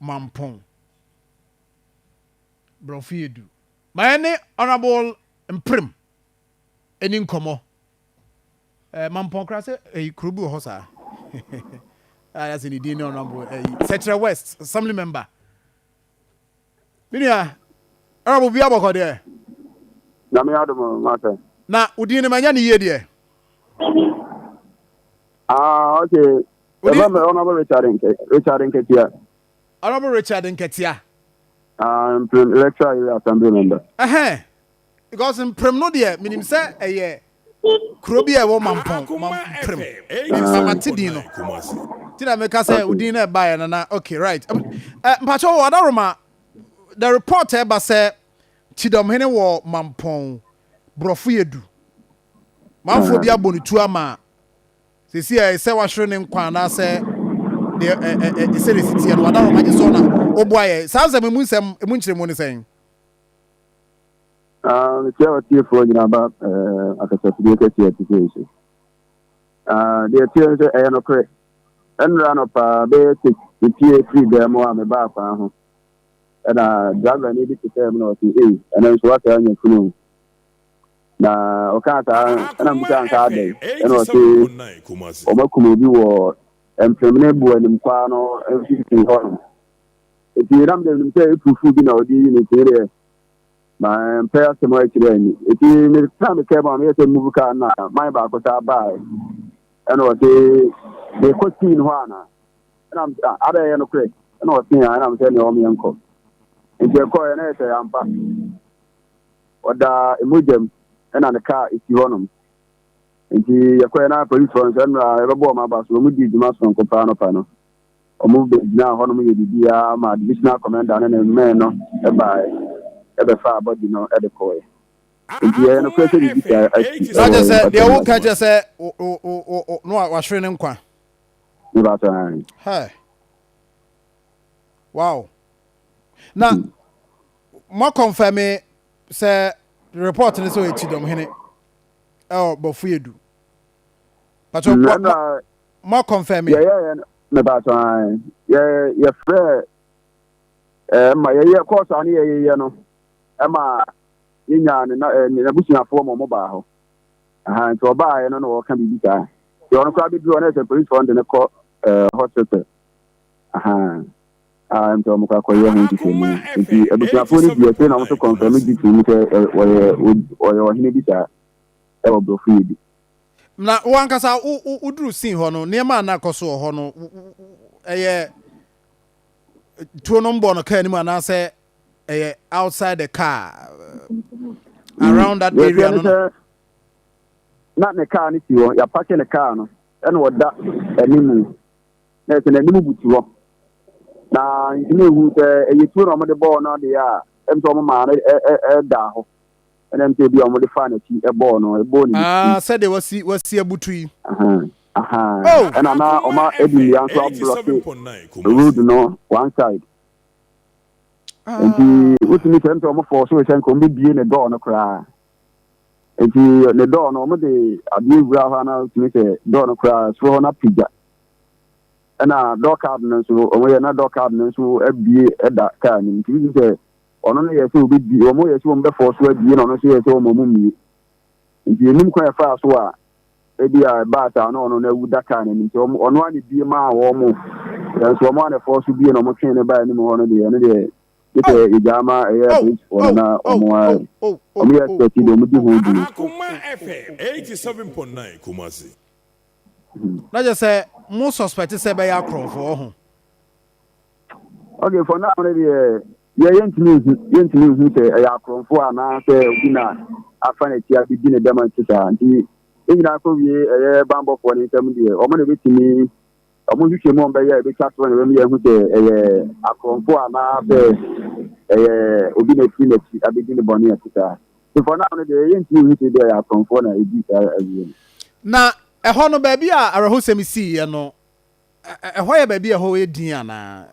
Mampong, Borɔfo yɛ du. Ma yɛne Honourable Mprem ɛni nkɔmmɔ. Eh, Mampong kora sɛ ɛyi kuro bi wɔ hɔ saa. Ah, yɛsɛ ne din ne Honourable ɛyi Sɛkyerɛ West Assembly Member. Menua, Honourable bi abɔkɔ deɛ. Na me adom mata. Na wo din ne manya ne yie deɛ. Ah, okay. Wode- Ɛfɛ mɛ Honorable Richard Nkɛ Richard Nkɛtia. Honorable Richard Nkɛtia. Ah, Mprem Electoral Area Assembly Member. Ɛhɛn, because Mprem no deɛ menim sɛ ɛyɛ kuro bi a ɛwɔ Mampɔn, Mprem. Mpa mate din no. Nti na meka sɛ wo din no ɛbaeɛ no na okay right. Um, eh, mpakyɛ wɔ Adaroma, the report ɛba sɛ Kyidɔmhene wɔ Mampɔn, borɔfo yɛ du. Manfoɔ bi abɔ ne tu ama Seesei a ɛsɛ wahwere ne nkwa anaasɛ deɛ ɛ ɛ ɛ ɛsɛ na ɛsi teɛ no wada hɔ ma gye sɛ ɔnam woboa yɛ saa nsɛm mu nsɛm mu nkyerɛmu ne sɛn. Ah, mekyia watiefoɔ nyinaa ba eh, akasafidie kɛseɛ te sɛ so ah, deɛ ɛteɛ no sɛ ɛyɛ nokorɛ ɛnora no paa bɛyɛ sɛ metie firi dan mu a mebaa kwan ho ɛna driver no bi te sɛ mu na ɔse ei ɛno nso woataa nya funu Na ɔkaa saa no, ɛna mebisaa no sɛ adɛn? Ɛna ɔse wɔakum obi wɔ Mpremene Buo Animkwaa no mfimfini hɔnom. Enti na medeɛ menim sɛ aturufu bi na wɔde reyi no, enti medeɛ mampɛ asɛm ankyerɛ anni. Enti mekaa me kaa mu a meyɛ sɛ move kaa no na man baako saa baae. Ɛna ɔse, merekɔ scene hɔ anaa? Ɛna mese, ah, adɛn ɛyɛ nokorɛ? Ɛna ɔse, ah, ɛna mese, ɛneɛ wɔn yɛnkɔ. Enti ɛkɔɔɛ na ɛyɛ sɛ yɛampa. Ɔdaa mogya mu ɛna ne car esi hɔ nom. Nti yɛkɔɛ na polisfoɔ no sɛ ɛnora yɛbɛbɔ wɔn aba so. Wɔn dii dwuma sononko paa anɔpa no. Wɔn bɛgyinaa hɔ nom yɛ biribiara ma divisional commander ne ne men no baaɛ ɛbɛfaa body no de kɔɔɛ. Nti ɛyɛ nokorɛ sɛ biribi saa asi wɔ Mpatam Mmarahyɛ Badwam. Mepa kyɛw aane. Hɛɛ. Wow. na mo kɔnfɛme sɛ report no sɛ ɔyɛ kyidɔm hene ɛwɔ bɔfo yɛ du pàtó mo akɔnfɛme. yɛyɛ yɛ no mepàtó an yɛ yɛfrɛ ɛɛ ma yɛyɛ kɔɔso a ne yɛyɛ yɛ no ɛma yɛnya ne na ɛɛ ne n'abusuafoɔ ma wɔn baa hɔ ɛhan nti ɔbaa yɛ no na wɔka biribi saa yɛ ɔno koraa bi bi wɔ ne sɛ polisifoɔ no de ne kɔ ɛɛ hospital ɛhan. a mpɛ wɔn kɔ akɔyɛ ho nhwehwɛmu. Nti abusuafoɔ no di akyire na wɔn nso kɔnfɛm gye tum sɛ ɔyɛ ɔyɛ ɔhene bi saa ɛwɔ borɔfo yɛ bi. Na wo ankasa wo woduru scene hɔ no nneɛma a na ɛkɔ so wɔ hɔ no ɛyɛ tuo no mbɔ no kaa anim anaasɛ ɛyɛ outside the car around that area no. Na ne car no si hɔ yɛapake ne car no ɛna ɔda anim. Na sɛ n'anim butu hɔ, na ntumi nhu sɛ ɛyɛ tuo na wɔde bɔɔ no adeɛ a, ɛm sɛ wɔn maa no ɛdaa hɔ. Ɛna ɛm sɛ ebi a wɔde faa n'akyi ɛbɔɔ no, ɛbɔɔ ne ne ti. Ah, sɛdeɛ wasi, wasi abutu yi. Ahaa, oh. Ɛna na wɔn a ɛdi nnua nso ablɔke road no one side. Ah. Nti, wotumi sɛ ɛm sɛ wɔn fɔɔ so sɛ nka wɔn bɛbie ne dɔɔ no koraa. Nti, ne dɔɔ no, wɔn de adeɛ wura hɔ a na wotumi sɛ dɔɔ no koraa, soro hɔ no apagya. ɛna door card no nso wɔn yɛ na door card no nso abie ɛda kaa nim nti bi sɛ ɔno no yɛ sɛ obi bi wɔn yɛ sɛ wɔn bɛfɔ so abie na ɔno nso yɛ sɛ wɔn ɔmo mie nti enim kwan ɛfaa so a ebi a ɛbaa saa na ɔno no awu da kaa n'anim nti ɔmo ɔno ano bie maa wɔn mo nanso wɔn ano ɛfɔ so bie na ɔmo twɛn ne baa anim hɔ no deɛ ɛno deɛ ɛsɛ oh. ɛgya ama ɛyɛ oh. polisi wɔn oh. na ɔmo ayɛ ɔmo yɛ sɛti deɛ ɔmo di ho dwuma. Akoma FM eighty seven point nine Kumasi. Na kyerɛ sɛ mo suspect sɛ ɛbɛyɛ akorɔmfo ɔho. Okay for now ne deɛ yɛ yɛntumi nhu yɛntumi nhu sɛ ɛyɛ akorɔmfo anaa sɛ obi na afa n'akyi abedi ne dɛm nti saa nti yɛn nyinaa kɔ wie ɛyɛ bambɔfoɔ ne nsɛm deɛ wɔn na ebetumi wɔn nhwehwɛ mu wɔn bɛyɛ a ebetwa so na wɔn yɛ hu sɛ ɛyɛ akorɔmfo anaa sɛ ɛyɛ obi na efiri n'akyi abedi ne bɔne ɛte saa. For now no deɛ, yɛntumi nhu sɛ ebia ɛyɛ akorɔmfoɔ na edii saa awie no. Na ɛhɔ no, baabi a awerɛhosɛm siiɛ no, ɛ, ɛhɔ yɛ baabi a ɛhɔ yɛ dinn anaa?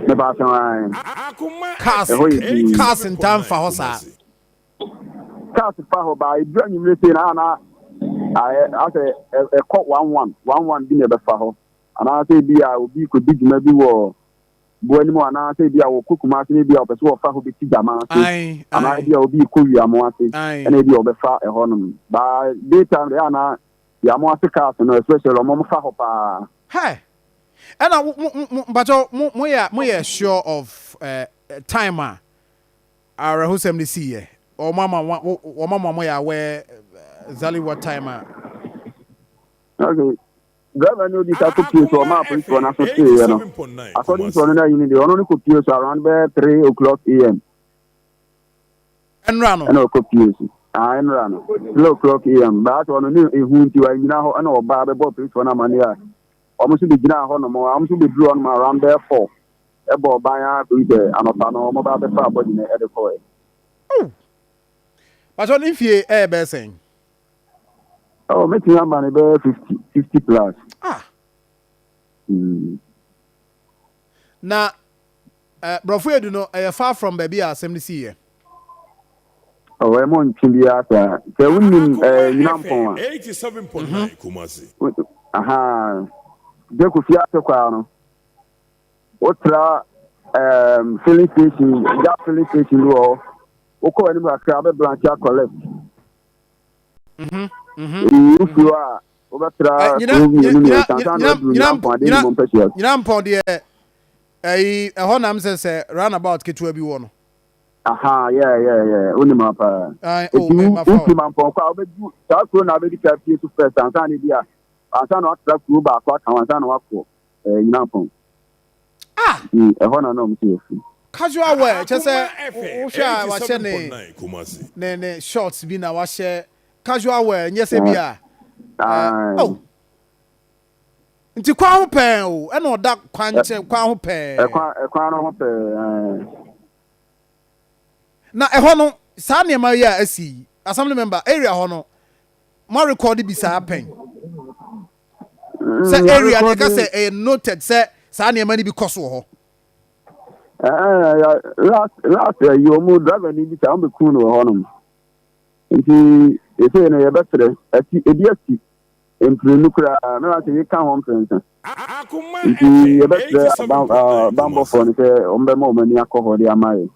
Mepaase ae. Cars, Ɛhɔ yɛ dinn. cars ntaa mfa hɔ saa. Cars fa hɔ, but ɛduru anwummere sei no a na ayɛ asɛ ɛ, ɛkɔ one one, one one bi na ɛbɛfa hɔ. Anaasɛ ebia obi rekɔdi dwuma bi wɔ boɔ anim hɔ anaa sɛ ebi a wɔkɔ Kumase na ebi a wɔpɛ sɛ wɔfa hɔ bɛsi Gyama ase anaa ebi a obi rekɔ Wiamo ase ɛna ebi a wɔbɛfa ɛhɔnom ba day time deɛ anaa Wiamo ase cars no especially wɔn wɔn fa hɔ paa. Hɛ! Ɛna mo mo mo mpakyɛw mo mo yɛ mo yɛ sure of eh, time a awerɛhosɛm no sii yɛ? Wɔn ama wɔn wɔn ama wɔn yɛ aware exactly what time a? Okay. Driver no odi sa kopue so ɔmaa apolisifoɔ no aso teeɛ no, according to ɔno n'ayini deɛ, ɔno no kopue so around bɛyɛ three o'clock am. Ɛnora no. Ɛna ɔkopue so. Ah, ɛnora no. Three o'clock am. Baa sɛ ɔno ne ehu nti wanyina hɔ ɛna ɔbaa bɛbɔ apolisifoɔ no amaneɛ a wɔn nso bɛgyinaa hɔ nom wɔn nso bɛduru hɔ nom around bɛyɛ four ɛbɔ ɔban ara kɔyi sɛ anɔpa no wɔn baa bɛfa abɔgye no ɛde kɔɛ. Bàtɔ ne mfie ɛyɛ bɛyɛ sɛn? Oh, me tìyà mba ni bẹ́ẹ̀ fifty fifty plus. Ah. Mm. Na eh, brɔfo edu no ɛyɛ eh, far from baabi a asɛm no si yɛ. Ɔwɔ ɛmo ntwe bi asa sɛ wonim eh, nyina mpɔn a. Eighty seven point nine mhm. Kumasi. Aha, de ko fi ase kwaa no. Wotra um, filling station, gas filling station wɔ hɔ. Wokɔ anim kakra bɛ branch akɔ left. Mhm, mhm. Wɔde nyiyiw suro a wobɛtra Ɛ, nyina so mmienu nyina mmiɛnsa ansa na nyina waduru nyina mpo Nyankopɔn adeɛ nyina nyimɔ mpasua so. nyina mpɔn deɛ ɛyi ɛhɔ nam sɛ sɛ roundabout ketewa bi wɔ no. Aha, yeah, yeah, yeah. Wonim ha paa. Ae, oh, Enti me wo- mafa wofi o. Mampɔn kɔ a wobɛdu saa kuro na wobɛdi ka fie so first ansa na bi a ansa na watra kuro baako aka ho ansa na wakɔ Ɛɛ Nyankpɔn. Ah! Nti ɛhɔ na na ɔmo sɛ yɛfi. Casual wear kyerɛ sɛ wohwɛ a wahyɛ ne ne ne shorts bi na wahyɛ casual wear nyɛ sɛ bi a. Ae. Oh! Nti kwan ho pɛɛ o, ɛna ɔda kwan nkyɛn kwan ho pɛɛ. Ɛkwan ɛkwan no ho pɛɛ ae. Na ɛhɔ no saa nneɛma yi a asi yi, assembly member, area hɔ no moarekɔɔde bi saa pɛn? sɛ area no ɛka sɛ ɛyɛ noted sɛ saa nneɛma no bi kɔ so wɔ hɔ. last last ɛyi wɔn mu driver ni bi saa wɔn bɛ kun no wɔ hɔ nom nti efei no yɛbɛsrɛ ɛti ebi asi mpirinu koraa na wɔn sɛ yɛka ho mpɛnsa nti yɛbɛsrɛ abanbɔfoɔ no sɛ wɔn bɛma wɔn ani akɔ hɔ de ama yɛ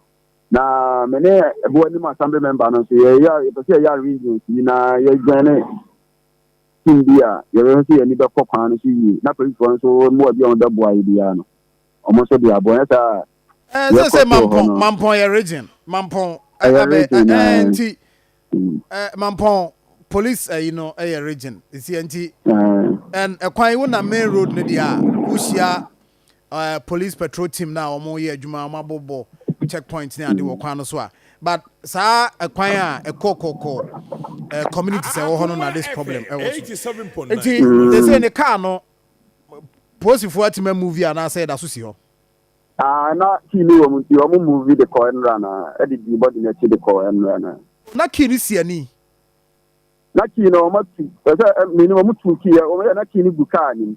na me ne ɛboa anim assembly member no nso yɛyɛ yɛpɛ sɛ yɛyɛ arrangements yi na yɛdwɛn ne. Tum bi a yɛbɛhwɛ sɛ yɛn ani bɛkɔ kwan no so yie, na polisifo no nso mmoa bi a wɔbɛboa yɛn biara no, wɔn nso de aboa. Anyɛ saa a, Ɛɛ, deɛ ɛkɔ seesei so wɔ hɔ Mampɔn, no. Mampɔn yɛ region. Mampɔn ɛ, Ɛyɛ abɛ, region ɛ, ɛ, nti, ɛ, aa. Mampɔn police ayi no yɛ region. Nti, nti, Ɛɛ. ɛ, ɛ, kwan, wonam main road no deɛ a, wohyia eh, police patrol team no a wɔn yɛ adwuma wɔn abobɔ check point ne ade wɔ kwan no so a but saa ɛkwan a ɛkɔ kɔkɔ eh, community sɛ ɛwɔ hɔ no na this problem ɛwɔ so nti they say ne car no polisifoɔ atumi amuvi anaasɛ ɛda so si hɔ Ah, na kii ne wɔ mu nti wɔn muvi de kɔ nnura na ɛde di bɔdi n'akyi de kɔ nnura na. na kii ne si ani Na kii no wɔn atu ɛsɛ ɛm, mmienu wɔn tu kii yɛ wɔn yɛ na kii ne gu kaa nim.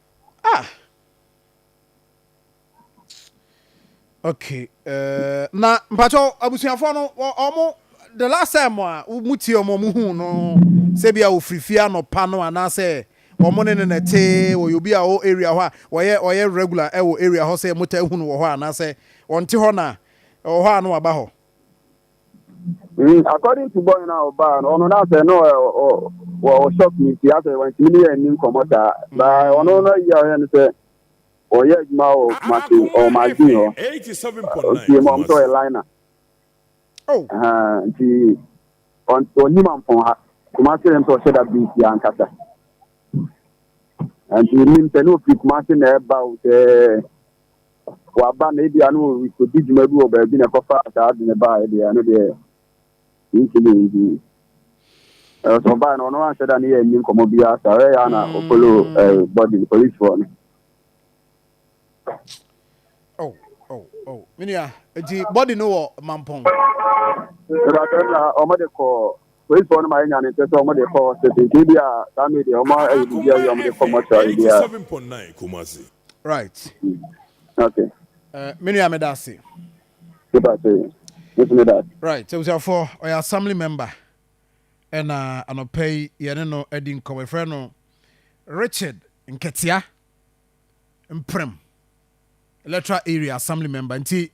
Ah! Okay, eh, na mpacho abusuafo no omo the last time a mo tie omo mo hu no se bia ofri fie anopa no anase omo ne ne na te oye obi a o area hɔ a oye oye regular ewo area hɔ se mo ta hu no wɔ hɔ anase onte hɔ na wɔ hɔ a no aba hɔ. Mm, according to boy na ɔbaa no ɔno na sɛ no wɔ shock ne nti asɛ wantumi ne yɛ ani nkɔmmɔ saa baa ɔno no ayi a ɔyɛ no sɛ ɔyɛ adwuma wɔ kumase ɔwɔ magazine hɔ ɔtie mu ɔm sɛ ɔyɛ liner nti ɔnim ampɔn ha kumase rɛm sɛ ɔhyɛ da bi nti ankasa nti nim sɛ ne ofiri kumase na ɛba wo sɛ waba na ebia no ɔdi dwuma bi wɔ baabi na ɛkɔfa saa ade no baa deɛ ɛno deɛ ntumi nyi ɛsɛ ɔbaa no ɔno anhyɛ da ne yɛ nni nkɔmmɔ bi asa ɔyɛ yɛ na ɔfolo bɔdi polisifoɔ no oh, oh, oh. menua nti bɔdi no wɔ mampɔn ɔmɔde kɔ Polisifo no ma yenya ne nkyɛ sɛ wɔn de kɔ hospital nti ebia saa maid deɛ wɔn ayɛ biribi awie a wɔn de kɔ mortuary biara. Right. Okay. Uh, me nua meda ase. Meda ase. Mesi meda ase. Right. Abusuafoɔ ɔyɛ assembly member ɛna anɔpɛ yi yɛne no adi nkɔmɔ yɛfrɛ no Richard Nketea Mprem electoral area assembly member nti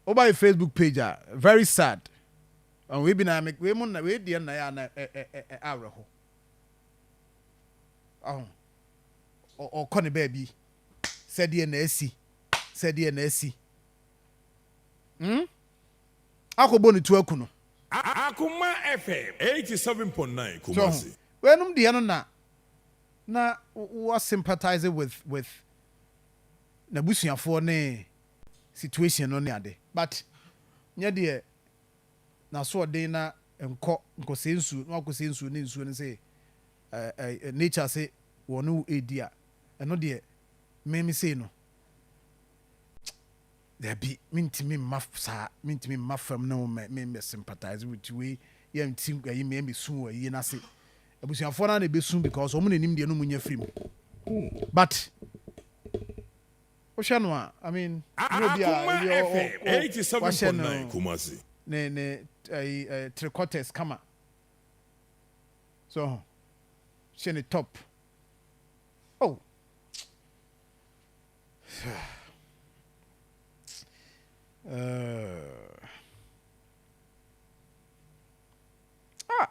woba yɛ Facebook page a very sad Ɔn, wei bi na me, wei mo na, wei deɛ na yɛ a na ɛ, ɛ, ɛ, ɛ, awerɛho. Ɔn, ɔ, ɔkɔ ne baabi, sɛdeɛ na asi, sɛdeɛ na asi. Hmm? Akɔ bɔ ne tu aku no. Akoma FM eighty seven point nine So ho, Kumasi. weinom deɛ no na, na wo, wo sympathise with, with n'abusuafoɔ ne situation no ne ade, but nyɛ deɛ. n'asoɔden na nkɔ nkɔsɛe nsuo na wakɔsɛe nsuo ne nsuo no sɛ ɛɛ nature se wɔne wo redi a ɛno deɛ me me sei no dabi mentumi mma saa mentumi mma fam ne wo mɛ me mɛ sympathize with you wei yɛ nti ayi me mɛ sun wɔ ayie no ase abusuafoɔ no na ɛbɛsun because wɔn na anim deɛ no mu nya firi mu but Wohwɛ no a, I mean, nyɛ obi a Akoma ebi ɔ- FM ɔ- ɔ- 87.9 wahyɛ no Kumasi. ne ne ɛyi ɛ three quarters kama. So ho, hyɛ ne top. Oh. Uh. Ah.